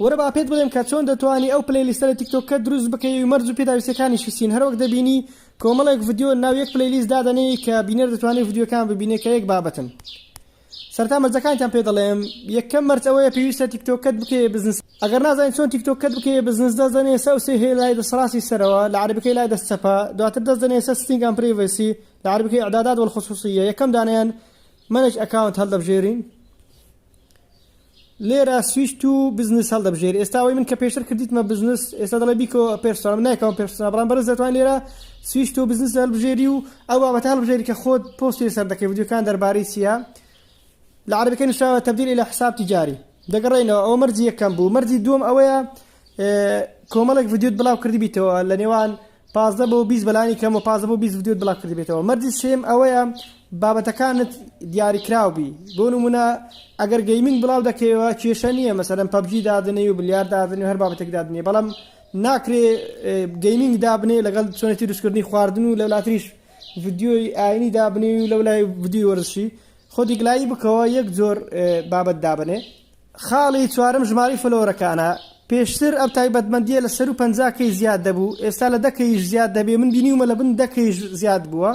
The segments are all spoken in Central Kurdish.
وەرە با پێت بڵێم کە چۆن دەتوانی ئەو پلەی لیستە لە تیک تۆک کەت دروست بکەی و مەرج و پێداویستیەکانی شیسین هەروەک دەبینی کۆمەڵێک ڤدیۆ ناو یەک پلەی لیست دادەنێی کە بینەر دەتوانێ ڤدیۆکان ببینێ کە یەک بابەتن سەرتا مەرجەکانتان پێ دەڵێم یەکەم مەرج ئەوەیە پێویستە تیک تۆک کەت بکەی بزنس ئەگەر نازانین چۆن تیک تۆک کەت بکەی بزنس دەست دەنێ سە سێ هەیە لای دەست ڕاستی سەرەوە لە عربەکەی لای دەست چەپە دواتر دەست دەنێ سە ستینگ ئەم پرەیڤەسی لە عربەکەی ئەعدادات وەلخصوصیە یەکەم دانیان مەنێج ئەکاونت هەڵدەبژێرین لێرە سویچ تو بزنس هەڵدەبژێری ئێستا ئەوەی من کە پێشتر کردیتمە بزنس ئێستا دەڵێ بیکۆ پێرسۆنا من نایکەمە پێرسۆنا بەڵام بەڕێز دەتوان لێرە سویچ تو بزنس هەڵبژێری و ئەو بابەتە هەڵبژێری کە خۆت پۆستی لەسەر دەکەی ڤیدیۆکان دەربارەی چییە لە عەرەبیکە نووسراوە تەبدیل ئیلا حساب تیجاری دەگەڕێنەوە ئەو مەرجی یەکەم بوو مەرجی دووەم ئەوەیە کۆمەڵێک ڤیدیۆت بڵاو کردی بیتەوە لە نێوان پازدە بۆ بیست بەلانی کەم و پازدە بۆ بیست ڤیدیۆت بلاو کردبێتەوە مەرجی سێم ئەوەیە بابەتەکانت دیاری کراو بی بۆ نمونە ئەگەر گەیمینگ بلاو دەکەیەوە کێشە نییە مەسەلەن پەبجی دادنێی و بلیار دادنێ هەر بابەتێک دادنێ بەڵام ناکرێ گەیمینگ دابنێ لەگەڵ چۆنێتی دوستکردنی خواردن و لەولاتریش ڤیدیۆی ئاینی دابنێ و لەولای ڤیدیۆی وەرزشی خۆ دیگلایی بکەوە یەک جۆر بابەت دابنێ خاڵی چوارەم ژمارەی فۆلۆوەرەکانە، پێشتر ئەم تایبەتمەندییە لە سەروو پەنجا کەی زیاد دەبوو، ئێستا لە دە کەییش زیاد دەبێ، من بینیومە لە بن دە کەییش زیاد بووە،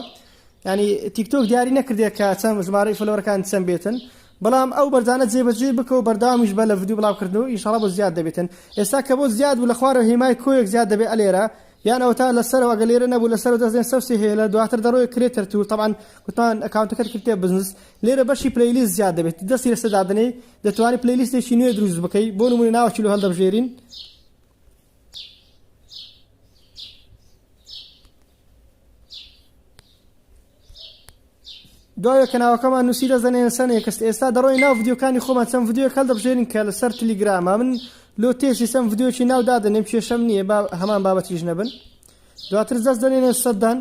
یانی تیک تۆک دیاری نەکردێ کە چەند ژمارەی فۆلۆوەرەکانت چەند بێتن، بەڵام ئەو مەرجانە جێبەجێی بکە و بەردەوامیش بە لە ڤیدیۆ بڵاوکردن و ئینشاڵا بۆت زیاد دەبێتن، ئێستا کە بۆت زیاد بوو لە خوارەوە هێمای کۆیەک زیاد دەبێ ئەلێرە یان ئەوەتا لە سەرەوە ئەگەر لێرە نەبوو لە سەرەوە دەست دێن سەوسێ هێلە دواتر دەڕۆیە کرێتەر تول تەبعەن گوتمان ئەکاونتەکەت کردیتە بزنس لێرە بەشی پلەیلیست زیاد دەبێت و دەستی لەسەر دادەنێی دەتوانی پلەیلیستێکی نوێ دروست بکەی بۆ نمونە ناوەکی لۆ هەڵدەبژێرین دوای کەناوەکەمان نووسی دەزانێن سەنێکست ئێستا دەڕۆی ناو ڤیددیوکانی خۆمان چەند ڤیددیو کەل دەبژێنین کە لەسەر تلیگرامە من لۆ تێسی سەم ڤیددیوکی ناو دادەنێم کێشەم نییە هەمان بابەتیش نەبن دواتر دەست دەنێنە سەدان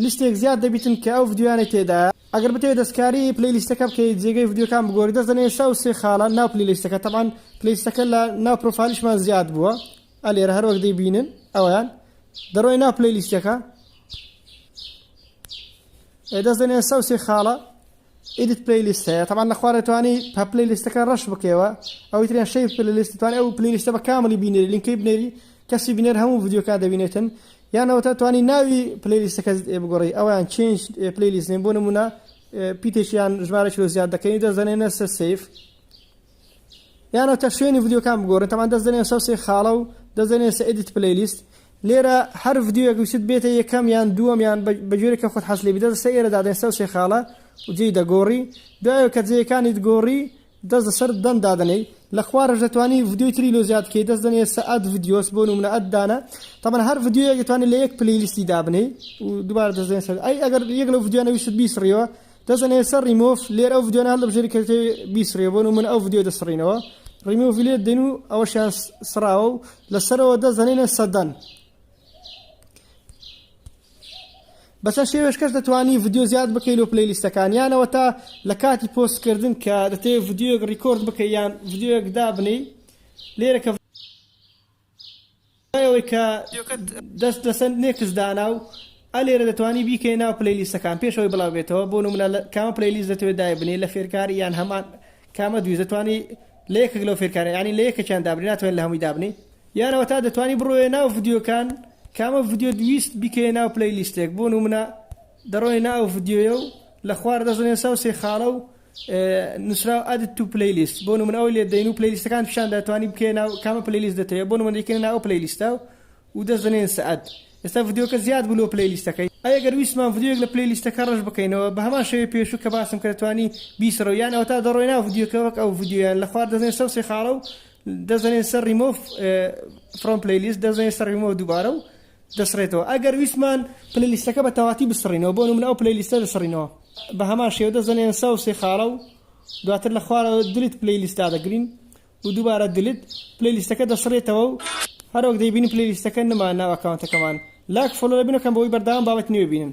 لیستێک زیاد دەبیتن کە ئەو ڤیدیۆیانەی تێدایە ئەگەر بتەوێ دەستکاری پلەی لیستەکە بکەی جێگەی ڤیدیۆکان بگۆری دەست دەنێیس ئەو سێ خالە ناو پلەی لیستەکە تەبعەن پلەی لیستەکە لە ناو پرۆفایلیشمان زیاد بووە ئە لێرە هەر وەک دەیبینن ئەویان دەڕۆی ناو پلەی لیستەکە ئێ دەست دەنێیس ئەو سێ خالە Edit Playlist هەیە تەبان لە خوارە توانی پە پلەیلیستەکە ڕەش بکەوە ئەوەی تریان شەی پلەلیست توانێت ئەو پلەیلیستە بە کاملی بینێری لینکەی بنێری کەسی بینێر هەموو ڤیدیۆکان دەبینێتن یانەوەتە توانی ناوی پلەیلیستەکە بگۆڕی ئەویان چێنج پلەیلیست نێن بۆ نمونە پیتێکیان ژمارە کیلۆ زیاد دەکەین دەزانێنە سە سیف یانەوە تا شوێنی ڤیدیۆکان بگۆڕن تەمان دەست دەنێ سەوسێ خاڵە و دەست دەنێ سە ئیدیت پلەیلیست لێرە هەر ڤیدیۆیەک ویست بێتە یەکەم یان دووەم یان بە جۆرێک کە خۆت حەز لێ بدە سە ئێرە دادەن سەوسێ خاڵە و جێی دەگۆڕی دوایە کە جێیەکانیت گۆڕی دەست لەسەر دەن دادەنەی لە خوارەش دەتوانی ڤیدیۆی تری لۆ زیاد کەی دەست دەنێ سە ئەد ڤیدیۆس بۆ نمونە ئەد دانە تەمان هەر ڤیدیۆیەک دەتوانێت لە یەک پلەیلیستی دابنەی و دووبارە دەست دەنێ سەر ئەی ئەگەر یەک لەو ڤیدیۆنە ویست بیسڕیەوە دەزن ئێستا ڕیمۆف لێر ئەو ڤیدیۆنە هەڵدەبژێری کە دەتەوێ بیسڕیە بۆ نمونە ئەو ڤیدیۆ دەسڕینەوە ڕیمۆڤی لێ دێن و ئەوەشیان سڕاوە و لەسەرەوە دەزانێنە سەدەن بەسە شێوێش کەس دەتوانی ڤیدیۆ زیاد بکەی لۆ پلی لیستەکان یانەوە تا لە کاتی پۆستکردن کە دەتەوێت ڤیدیۆک ڕیکۆرد بکە یان ڤیدیۆک دابنی لێرە کە دوای ئەوەی کە دەست لەسەر نێکس دانا و ئە لێرە دەتوانی بیکەی ناو پلەی لیستەکان پێش ئەوەی بڵاو بێتەوە بۆ نمونە لە کامە پلەی لیست دەتەوێت دایبنێ لە فێرکار یان هەمان کامە دویست دەتوانی لە یەکێک لەو فێرکارە یعنی لە یەکێکیان دابنێ ناتوانێت لە هەمووی دابنێ یانەوە تا دەتوانی بڕۆێ ناو ڤیدیۆکان کامە ڤیدیۆ دویست بیکەیە ناو پلەی لیستێک بۆ نمونە دەڕۆی ناو ڤیدیۆیە و لە خوار دەزنێسا و سێ خاڵە و نوسراو added to playlist بۆ نمونە ئەوەی لێ دەین و پلەیلیستەکان پیشان دەتوانی بکەی ناو کامە پلەیلیست دەتەوێت بۆ نمونە دەیکەین ناو پلەیلیستە و دەست دەنێن سەعد ئێستا ڤیدیۆکە زیاد بوو لۆ پلەیلیستەکەی ئەی گەر ویستمان ڤیدیۆیەک لە پلەیلیستەکە ڕەش بکەینەوە بە هەمان شێوەی پێشوو کە باسم کە دەتوانی بیسڕەوە یان ئەوەتا دەڕۆی ناو ڤیدیۆکە وەک ئەو ڤیدیۆیان لە خوار دەزێن سەوسی خاڵە و دەزەنێن سەر ڕیمۆف فرۆم پلەیلیست دەزێن سەر ڕیمۆ دووبارە و دەسڕێتەوە ئەگەر ویستمان پلەی لیستەکە بە تەواتی بسڕینەوە بۆ نمونە ئەو پلەی لیستە دەسڕینەوە بە هەمان شێوە دەزەنێن سا و سێ خاڵە و دواتر لە خوارەوە دلیت پلەی لیستا دەگرین و دووبارە دلیت پلەی لیستەکە دەسڕێتەوە و هەرۆک دەیبینی پلەی لیستەکە نما ناو ئەکاونتەکەمان لاک فۆلۆ لە بینەکەم بۆی بەردەوام بابەت نوێ بینن